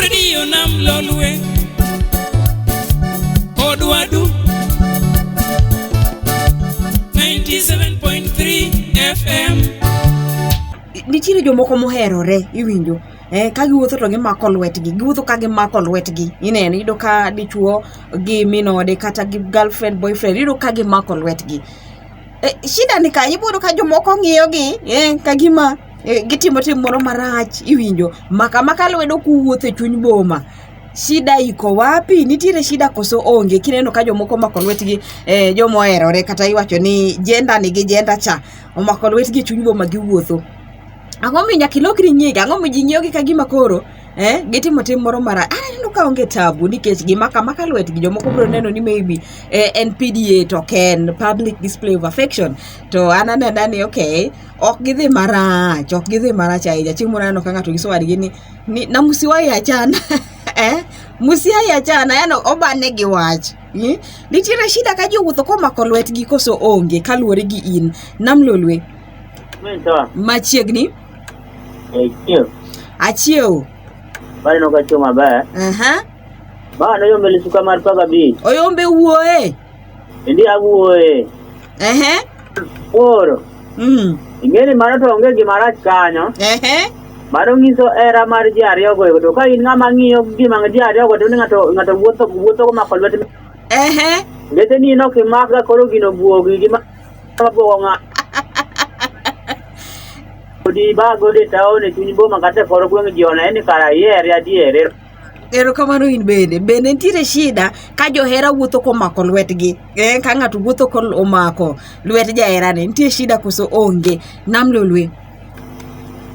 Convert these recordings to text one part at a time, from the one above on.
redio nam lolwe odwadu 97.3 fm nitiere jomoko moherore iwinjo eh, ka giwuotho to gimako lwetgi giwuotho ka gimako lwetgi ineno iyudo ka dichuo gi minode kata gi girlfriend boyfriend iyudo ka gimako lwetgi Eh, shida ni ka ibodo ka jomoko ng'iyo gi eh, ka gima eh, gitimo tim moro marach iwinjo maka maka lwedo kuwuotho e chuny boma shida iko wapi nitiere shida koso onge kineno ka jomoko omako lwetgi eh, joma oherore kata iwacho ni jenda ni gi jenda cha omako lwetgi e chuny boma giwuotho ang'o mi nyaka ilokri nyingi ang'o mi ji ng'iyogi ka gima koro eh, gitimo tim moro mara aneno ka onge tabu nikech gima kama ka lwetgi jomoko biro neno ni maybe eh, en PDA to ok en public display of affection to an anena ni okay ok gidhi marach ok gidhi marach ahinya chieng' moro aneno ka ng'ato nyiso wadgi ni, ni na musiwayi achana eh, musiayi achana yani obane gi wach hmm? nitiere shida ka jowuotho komako lwetgi koso onge kaluwore gi in namlolwe machiegni Eh, chiew. Achiew. Bali no kachiew maber. Aha. Uh -huh. Bana yo meli suka mar paga bi. Oyombe wuoe. Ndi awuoe. Ehe. Oro. Mm. Ingeni mano to onge gima rach kanyo. Ehe. Mano nyiso era mar ji ariyo go to ka in ng'ama ng'iyo gima ji ariyo go to ng'ato ng'ato wuotho wuotho ko mako lwete. Ehe. Lete ni no kimakga koro gino buogi gima Magowa nga. Odi ba gode taone chuny boma kata koro gweng' ji one ni kara ihere adier. Er- Erokamano in bende. Bende nitiere shida ka johera wuotho komako lwetgi. Eh, ka ng'ato wuotho ko omako lwet jaherane. Nitie shida koso onge. Nam lolwe.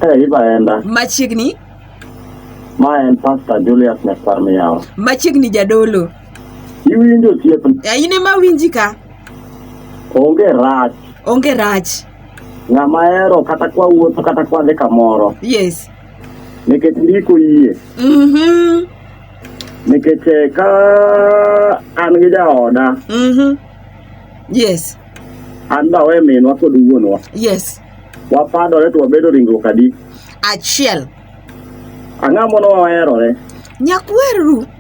Eh, ibaenda. Machiegni Ma en Pastor Julius Nyakwar Miyawa. machiegni jadolo Iwinjo osiepna? Ya, in ema winji ka. Onge rach. Onge rach. Ng'ama hero kata kwa wuotho kata kwa dhi kamoro. Yes. Nikech ndiko yie. Mhm. Mm Nikech eh, ka an gi jaoda. Mhm. Mm yes. An dawe minwa kod wuonwa. Yes. Wapadore to wabedo ringruok adi? Achiel. Ang'amono waherore. Nyakweru.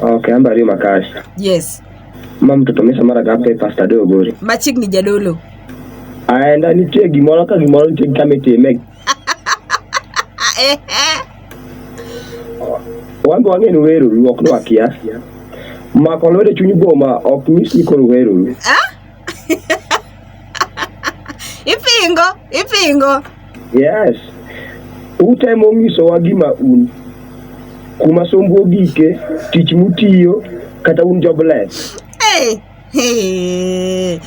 Okay, ambari makashi. Yes. Ma mtoto mesa mara gape pasta do gori. Machik ni jadolo. Aenda ni tie gimoro ka gimoro ni tie kame tie meg. Eh, eh. Wango wange ni weru ruok no akia. Ma kolore chunyi boma ok nyis ni koro weru. Ah? ipingo ipingo yes utemo nyisowa gima un kuma sombu ogike tich mutiyo kata un jobless hey, hey.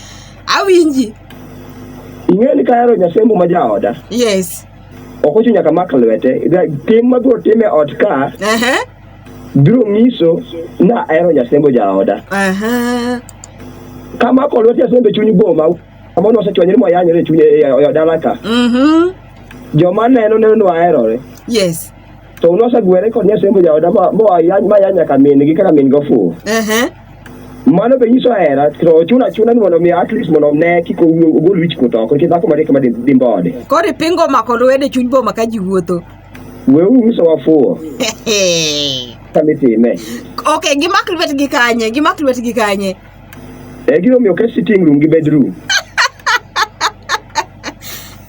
awinji ing'eyo ni kahero nyasembo ma jaoda yes ok ochuno nyaka mak lwete tim mabiro time ot ka uh -huh. biro nyiso na ahero nyasembo jaoda Aha. kamako lwet nyasembe chuny boma amono osechwanyore moyanyore e chuny e- e- e dala ka Mhm. joma neno neno ni waherore Yes. to nosegwere kod nyasembo jaoda ma- moa ya- ma ya nyaka min-gi kaka min-gi ofuwo Aha. mano be nyiso hera to ochuno achuna ni mondo mi at least mondo ne kik ogol wich kuot oko nikech dhako mariek ma dimbode Koro ipingo mako lwedo e chuny boma ka ji wuotho. Weuru uso wafuwo. Kami time. Okay, gimak lwetgi kanye? Gimak lwetgi kanye? Eh, gino miyo ke sitting room gi bedroom.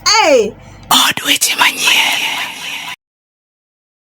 hey! Od weche manyien.